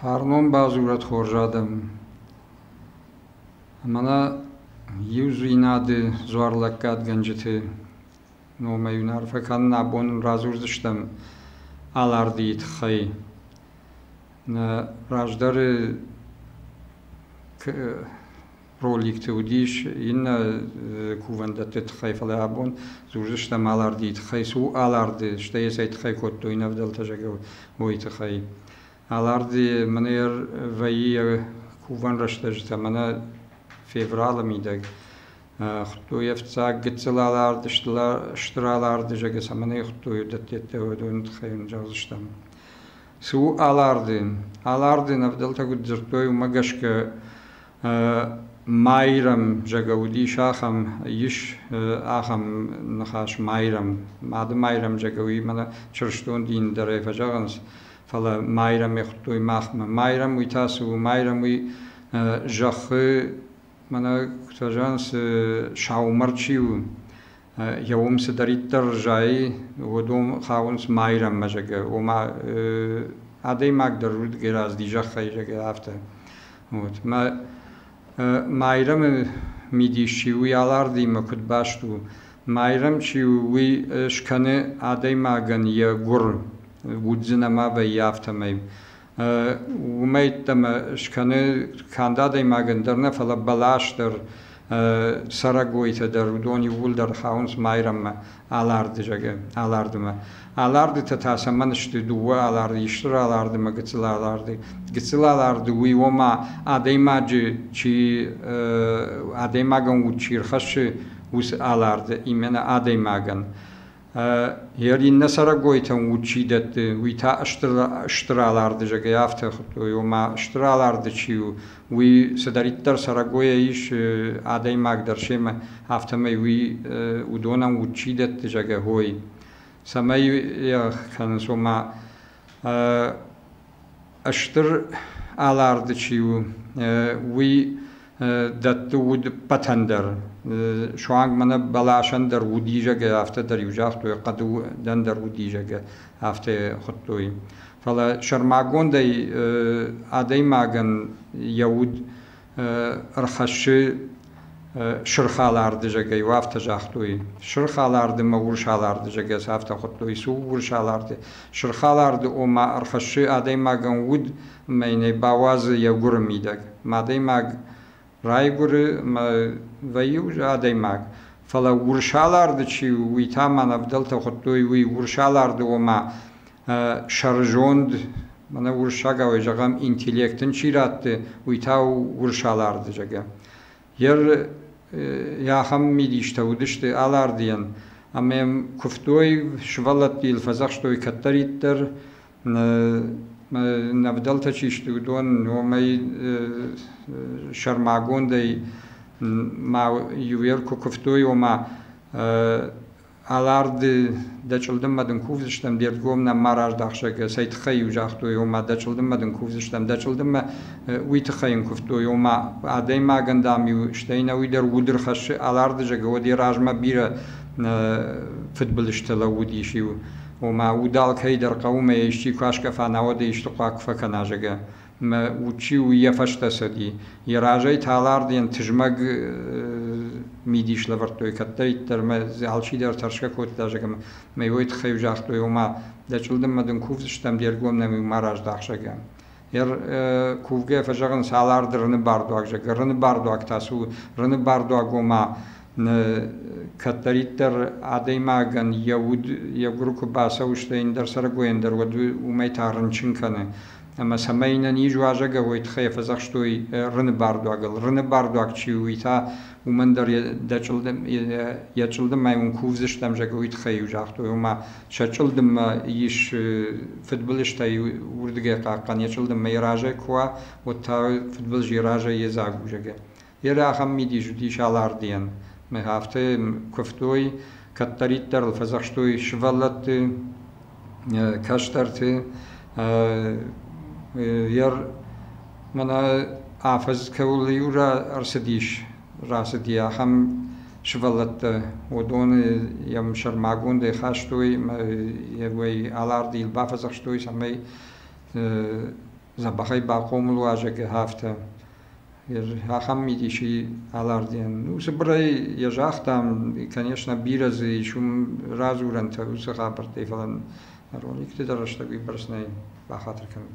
Фарнон бадзурӕд хорз адӕм! Мӕнӕ иудзинады дзуарлӕггадгӕнджыты номӕй уын арфӕ кӕнын абон радзурдзыстӕм Алардийы тыххӕй. Раздӕры роликты уыдис иннӕ кувӕндӕтты тыххӕй, фӕлӕ абон дзурдзыстӕм Алардийы тыххӕй. Цы у Аларды, стӕй йӕ цӕй тыххӕй кодтой нӕ ӕвдӕлтӕ, зӕгъӕм, уый тыххӕй. Алард мынӕр вӕййы йӕ кувӕн рӕстӕджытӕ мӕнӕ февралы мидӕг. Хуыдтой ӕфцӕг гыццыл Алард, стыр Аларды, зӕгъгӕ, цӕмӕн ӕй хуыдтой уыдӕттӕ, уыдоны тыххӕй йын зӕгъдзыстӕм. Цы у алардин? Алардин ӕвдӕлтӕ куыд дзырдтой, уымӕ гӕсгӕ майрӕм зӕгӕ уыдис ахӕм, ис ахӕм ныхас майрӕм. Мады майрӕм зӕгӕ уый мӕнӕ чырыстон дины дӕрӕй фӕзӕгъынц, фӕлӕ майрӕмӕй хуыдтой махмӕ. Майрӕм уый та цы у? Майрӕм уый зӕххы, мӕнӕ куыд фӕзӕгъынц, саумӕр чи у, Еуом цидӕриддӕр зайы, уодон хауынц Майрӕммӕ, зӕгъгӕ, ома адӕймаг дӕр удгӕй разыди зӕххӕй, зӕгъгӕ, афтӕ. Вот. Мӕ Майрӕмы мидис чи у, йӕ алардимӕ куыд баст у, Майрӕм чи у, уый скӕны адӕймагӕн йӕ гуыр, уддзӕн ӕмӕ вӕййы афтӕмӕй. уымӕй ӕддӕмӕ скӕны канд адӕймагӕн дӕр нӕ, фӕлӕ бӕлас дӕр, цӕрӕгойтӕ дӕр, уыдон иууылдӕр хауынц Майрӕммӕ, Аларды зӕгъы, Алардымӕ. Алардытӕ та цӕмӕн сты дыууӕ аларды, исты раларды ӕмӕ гыццыл аларды. Гыццыл аларды уый ома адӕймаджы чи адӕймагӕн уд чи рхӕссы, уыцы аларды, именно адӕймагӕн. Йӕ иннӕ цӕрӕгойтӕн уд чи дӕтты, уый та стыр аларды, зӕгӕй афтӕ хуыдтой, ома стыр аларды чи у, уый цыдӕриддӕр цӕрӕгойӕ ис адӕймаг дӕр семӕ, афтӕмӕй уый уыдонӕн уд чи дӕтты, зӕгӕ, хой. Цӕмӕй йӕ кӕнынц, ома Стыр аларды чи у, уый дӕтты удпӕтӕн дӕр. Суанг мӕнӕ бӕласӕн дӕр удизӕгӕй афтӕ дӕр иу загътой, хъӕдудӕн дӕр удизӕгӕй афтӕ хуыдтой. Фӕлӕ сӕрмагондӕй адӕймагӕн йӕ уд ӕрхӕссы сырх аларды зӕгӕй, уӕ афтӕ загътой. Сырх аларды мӕ урс аларды зӕгӕс афтӕ хуыдтой, цы у урс аларды? Сырх аларды, ома, ӕрхӕссы адӕймагӕн уд мӕ йын ӕй бауадзы йӕ гуыры мидӕг. Мӕ адӕймаг райгуыры, мӕ вӕййы уже адӕймаг. Фӕлӕ урс аларды чи у, уый та мӕн ӕвдӕлтӕ хуыдтой, уый урс аларды, ома, сӕрызонд, мӕнӕ уырыссагауӕй зӕгъӕм, интеллект ын чи ратты, уый та у урсаларды, зӕгъгӕ. Йер йӕ ахӕм мидистӕ уыдысты Алардыйӕн, ӕмӕ йӕм куывтой, сывӕллӕтты йыл фӕдзӕхстой кӕддӕриддӕр, ӕвдӕлтӕ чи сты, уыдон, уымӕй сӕрмагондӕй ма иуӕр куы куывтой, ома Аларды дӕ чъылдыммӕ дын кувдзыстӕм, де рдгом нӕм ма раздӕхсӕг цӕй тыххӕй иу загътой, ома дӕ чъылдыммӕ дын кувдзыстӕм. Дӕ чъылдыммӕ уый тыххӕй йын куывтой, ома адӕймагӕн, дам-иу стӕй ӕнӕуи дӕр удыр хӕссы. Аларды зӕгӕ уӕд йӕ размӕ бирӕ фыдбылызтӕ лӕууыдис иу, ома уд алкӕйы дӕр хъӕуы мӕ исчи куы аскъӕфа, науӕд ӕй исты хъуаг куы фӕкӕна, зӕгӕ. Мӕ удджи уййӕ фӕстӕ цӕди. Йӕ разӕй таларден тызмӕг мидис лӕвӕрдтой, кӕддӕриддӕр мӕ дзы алчидӕр тӕрсгӕ кодта, зӕгъӕм, мӕ уой тыххӕй-иу загътой, ома, дӕ чъылдыммӕ дын кувдзыстӕм де ргом нӕм-иу ма раздах, зӕгъгӕ. Кувгӕ фӕзӕгъынц, аларды рыны бардуаг, зӕгъгӕ, рыны бардуаг та цы у? Рыны бардуаг, ома, кӕддӕриддӕр адӕймагӕн йӕ уд йӕ гуыр куы бацӕуы, стӕй ӕндӕр цӕрӕгойӕн дӕр уӕд уымӕй та рынчын кӕны. Ӕмӕ цӕмӕй нӕ низ уазӕгау уой тыххӕй фӕдзӕхстой рыны бардуагыл. Рыны бардуаг чи у, уый та уымӕн дӕр дӕ чъылдым, йӕ чъылдымӕй уын кувдзыстӕм, зӕгъгӕ, уый тыххӕй-иу загътой. Ома, сӕ чъылдыммӕ ис фыдбылызтӕй уырдыгӕй хъахъхъӕн, йӕ чъылдыммӕ йӕ разӕй куы уа, уӕд та фыдбылыз йӕ разӕй йедзаг у, зӕгъгӕ. Йер ахӕм мидис уыдис Алардийӕн. Афтӕ куывтой, кӕддӕриддӕр ыл фӕдзӕхстой сывӕллӕтты, кӕстӕрты. Йер мӕнӕ афӕдз кӕуыл иу ӕрцыдис, рацыди ахӕм сывӕллӕттӕ, уыдоны йӕм сӕрмагондӕй хастой ӕмӕ йӕ Алардийыл бафӕдзӕхстой, цӕмӕй дзӕбӕхӕй бахъомыл уа, зӕгъгӕ, афтӕ. ахӕм мидисы аларден. Ну, цыбырӕй йӕ загътам, конечно, бирӕ дзы ис уым радзурӕнтӕ уыцы хабӕрттӕй, фӕлӕ нӕрон никуыдӕй рӕстӕг уыйбӕрц нӕй бахатыр кӕнын.